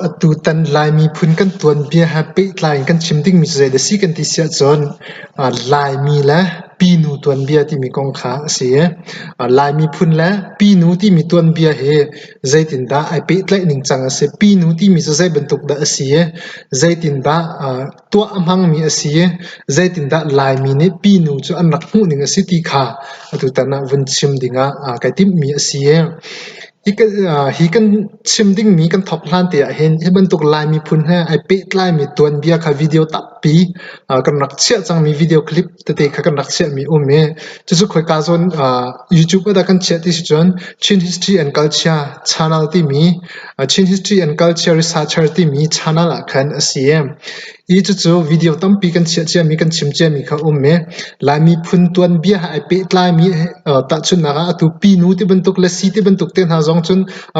Atutan Lai miphun kan tuanbia he pehtlai in kan chim dingmi cu zeidah a si kan ti si ahcun Laimi le Pinu tuanbia timi kong kha a si. Lai miphun le Pinu timi tuanbia hi zeitindah ai pehtlaih ningcang a si? Pinu timi cu zeibantuk dah a si? Zeitindah tuah a hmangmi a si? Zeitindah Laimi nih Pinu cu an rak hmuh ning a si ti kha atutan ah vun chim ding ah kai timhmi a si. Hi kan chim dingmi kan thawk hlan te ahhin hi bantuk Lai miphun he ai pehtlaimi tuanbia kha video tampi kan rak chiah cangmi video clip tete kha kan rak chiahmi um i cucu khoika zawn YouTube ah dah kan chiah ti si cun Chin History and Culture Channel timi Chin History and Culture Researcher timi channel ah khan a si. Hi cucu video tampi kan chiah ciami, kan chim ciami kha a um i Lai miphun tuanbia he ai pehtlaimi tahchunhnak ah atu pinu ti bantuk le si ti bantuk te hna zong cun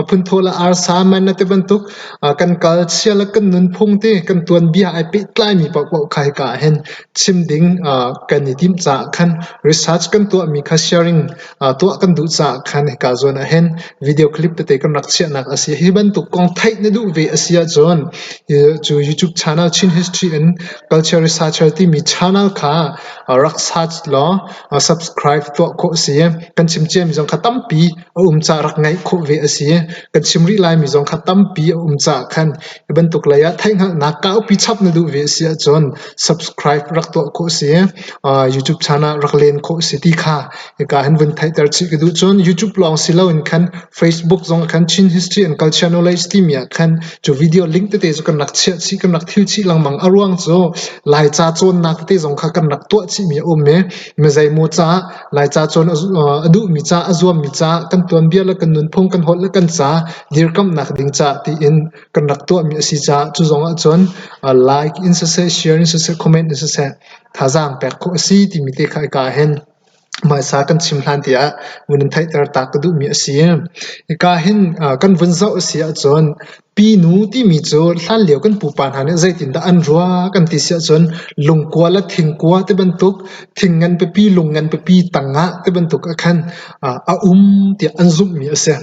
phunthawh le arsa manna ti bantuk kan kal chia le kan nunphung ti kan tuanbia ai pehtlaimi paohpaoh kha hika ah hin chim ding kan i tim caah khan research kan tuahmi kha sharing tuah kan duh caah khan hika zawn ah hin video clip tete kan rak chiahnak a si. Hi bantuk kong theih na duh ve a si ahcun cu YouTube channel Chin History in Culture Researcher timi channel kha rak search law subscribe tuah khawh a si. Kan chim ciami zong kha tampi a um caah rak ngaih khawh ve a si. Kan chim rih laimi zong kha tampi a um caah khan hi bantuk lei ah theihhngalhnak kaupi chap na duh ve a si ahcun subscribe rak tuah khawh a si. YouTube channel rak len khawh a si ti kha Hika hin vun theihter chih ka duh cun YouTube lawng si loin khan Facebook zong ah khan Chin History and Culture Knowledge timi ah khan cu video link tete cu kan rak chiah chih, kan rak thil chih lengmang. A ruang cu Laica cawnnak tete zong kha kan rak tuah chih mi a um i mizeimaw caah Laica cawn a duh mi caah a zuam mi caah kan tuanbia le kan nunphung kan holh le kan ca dirkamhnak ding caah tiin kan rak tuah mi a si caah cu zong ah cun like in siseh, share in siseh, comment in siseh thazaang pek khawh a si timi te kha hika ah hin hmaisa kan chim hlan te ah vun in theihter ta ka duhmi a si. Hika hin kan vun zoh a si ahcun pinu timi cu hlanlio kan pupa hna nih zeitindah an rua kan ti si ahcun lungkua le thingkua ti bantuk thing ngan pipi lung ngan pipi tang ah ti bantuk ah khan a um tiah an zumhmi a si.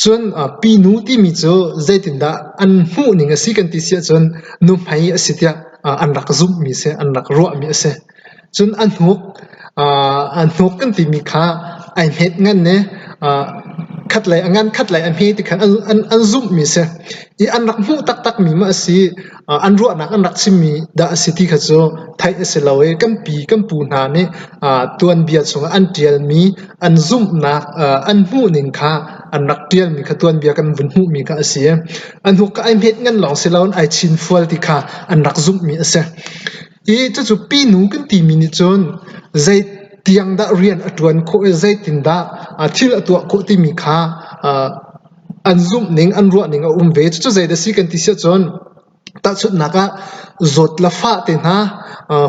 Cun pinu timi cu zeitindah an hmuhning a si kan ti si ahcun nuhmei a si tiah an rak zumhmi a si, an rak ruahmi a si. Cun a hnuk, a hnuk kan timi kha ai hmet ngan i khatlei a ngan khatlei a hme ti khan an zumhmi a si. I an rak hmuh taktakmi maw a si, an ruahnak an rak chimmi dah a si ti kha cu theih a si lo i kan pi kan pu hna nih tuanbia chungah an ṭialmi an zumhnak an hmuhning kha an rak ṭialmi kha tuanbia kan vun hmuhmi kha a si i a hnukka ai hmet ngan lawng si loin ai chinfual ti kha an rak zumhmi a si i cucu pinu kan timi nih cun zei tiang dah rian a ṭuan khawh i zeitindah thil a tuah khawh timi kha an zumhning, an ruahning a um ve. Cucu zeidah a si kan ti siahcun tahchunhnak ah zawt le fah te hna,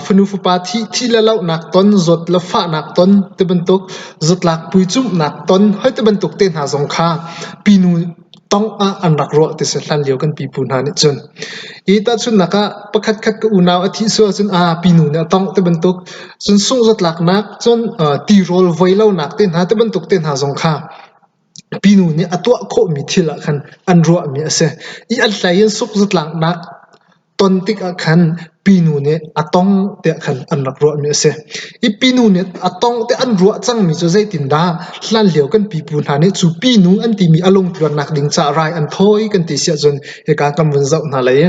fanu fapa thih, thih le lohnak ton, zawt le fahnak ton ti bantuk, zatlak puicumhnak ton, hoi ti bantuk te hna zong kha pinu tongh ah an rak ruah ti si hlan lio kan pipu hna nih cun. I tahchunhnak ah pakhatkhat ka unau a thih sual cun aa pinu nih a tongh ti bantuk, cun sungh zatlaknak, cun tirawl voi lonak te hna ti bantuk te hna zong kha Pinu nih a tuah khawhmi thil ah khan an ruahmi a si i a hlei in sukzatlaknak ton tikah khan pinu nih a tong tiah khan an rak ruahmi a si. I pinu nih a tong tiah an ruah cangmi cu zeitindah? Hlanlio kan pipu hna nih cu pinu an timi a lungtluannak ding caah rai an thawi kan ti siah cun hika kan vun zoh hna lai i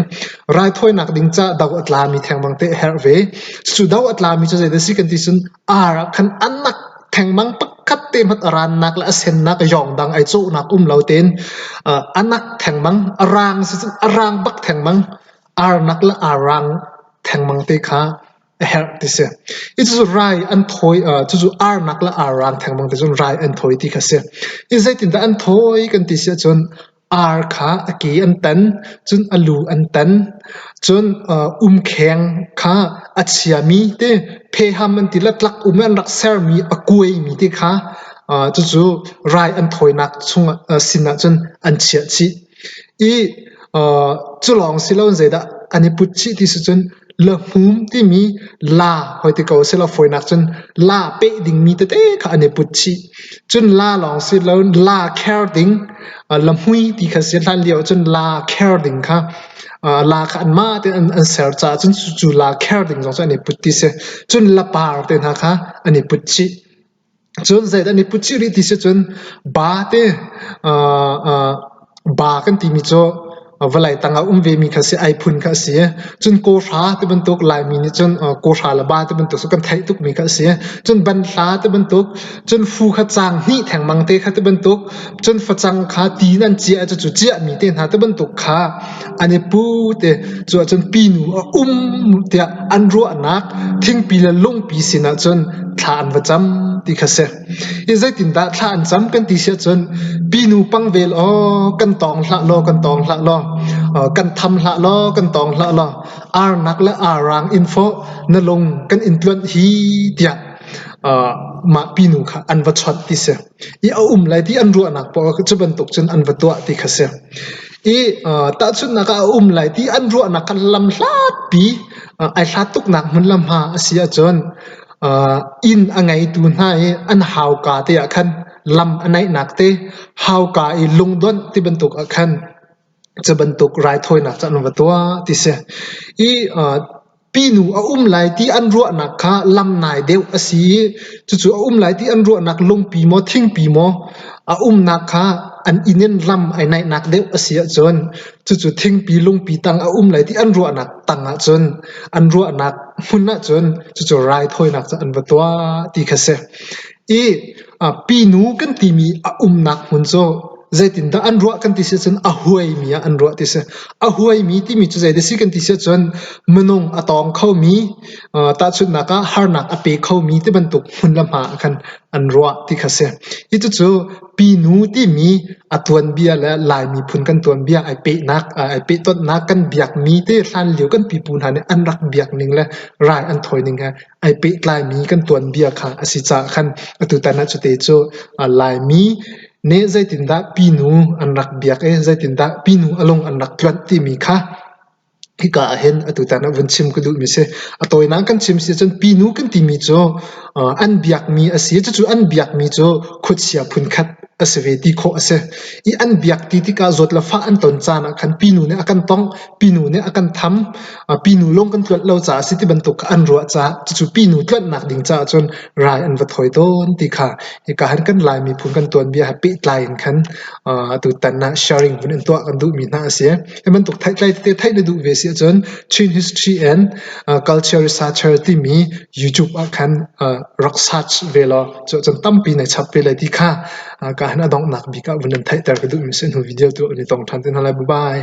raithawinak ding caah do a tlami thengmang te a herh ve. Cucu do a tlami cu zeidah a si kan ti cun ar ah khan a nak thengmang pakhat te hmanh a rannak le a sennak yawngdang ai cawhnak um lo tein uh, a nak thengmang a rang sicun a rang bak thengmang arnak le a rang thengmang te kha a herh ti si i cucu rai an thoi uh, cucu arnak le arang thengmang te cun rai an thoi ti kha si i zeitindah an thoi kan ti si ahcun Ar kha a ke an tan, cun a lu an tan. Cun umkheng kha a chiami te, pheham an ti le tlak um i an rak sermi a kuaimi te kha cucu rai an thawinak chungah sinah cun an chiah chih i cu lawng si loin zeidah an i put chih ti cu cun Lahmum timi la hoi ti ko selaw fawinak cun la peh dingmi tete kha an i put chih. Cun la lawng si lo la kher ding lahmui ti kha si hlan lio cun la kher ding kha aa la kha anmah tein an an ser caah cun cucu la kher ding zong cu an i put ti si. Cun lapar te hna kha an i put chih. Cun zeidah an i put chih rih ti si cun ba te ba kan timi cu vawlei tang ah um vemi kha a si, ai phun kha a si. Cun kawhra ti bantuk Laimi nih cun kawhra le ba ti bantuk cu kan theih tukmi kha a si. Cun banhla ti bantuk, cun fu kha caang hnih thengmang te kha ti bantuk, cun facang kha ti in an ciah i cucu ciahmi te hna ti bantuk kha an i pu te cu ahcun pinu a um tiah an ruahnak thingpi le lungpi sinah cun thla an va cam ti kha si hi zeitindah thla an cam kan ti si ahcun pinu pangvel aw kan tawng hlah law kan tawng hlah law kan tham hlah law kan tawng hlah law arnak le arang info na lung kan in tluan hi tiah mah pinu kha an va chawt ti si i a um lai ti an ruahnak paoh cu bantuk cun an va tuah ti kha si. I tahchunhnak ah a um lai ti an ruahnak kha lam hlatpi ai hlat tuknak hmun le hma a si ahcun inn a ngeitu hna i an hauka te ah khan lam a naihnak te hauka i lungdonh ti bantuk ah khan Cu bantuk raithawinak cu an va tuah ti si. I aa pinu a um lai ti an ruahnak kha lam nai deuh a si i cucu a um lai ti an ruahnak lungpi maw thingpi maw a umnak kha an inn in lam ai naihnak deuh a si ahcun cucu thingpi lungpi tang a um lai ti an ruahnak tang ahcun an ruahnak hmun ahcun cucu raithawinak cu an va tuah ti kha si. Pinu kan timi a umnak hmun cu zeitindah an ruah kan ti si ahcun a huaimi ah an ruah ti si. A huaimi timi cu zeidah a si kan ti si ahcun minung a tawng khomi, tahchunhnak ah harnak a pe khomi tibantuk hmun le hma ah khan an ruah ti kha si. Hi cucu pinu timi a tuanbia le Lai miphun kan tuanbia ai pehnak, ai pehtonnak kan biakmi te hlanlio kan pipu hna nih an rak biak ning le rai an thawi ning he ai pehtlaimi kan tuanbia kha a si caah khan atutan ah cute cu Laimi nih zeitindah pinu an rak biak i zeitindah pinu a lung an rak tluanh timi kha hika ahhin atutan ah vun chim ka duhmi si. A tawinak kan chim si cun pinu kan timi cu an biakmi a si. Cucu an biakmi cu khuachia phunkhat a si ve ti khawh a si. I an biak ti tikah zawt le fah an ton caan ah khan pinu nih a kan tongh, pinu nih a kan tham, Pinu lung kan tluanh lo caah si ti bantuk kha an ruah caah cucu pinu tluanhnak ding caah cun rai an va thawi tawn ti kha hika han kan Lai miphun kan tuanbia he pehtlai in khan tutan ah sharing hun in tuah kan duhmi hna a si. Hi bantuk thaitlai tete theih na duh ve si ahcun Chin History and Culture Researcher timi YouTube ah khan rak search ve law cu ahcun tampi na chap ve lai ti kha ka han adonghnak bik ah vun in theihter ka duhmi si hnu video tu an i tong ṭhan te hna lai. Bye bye.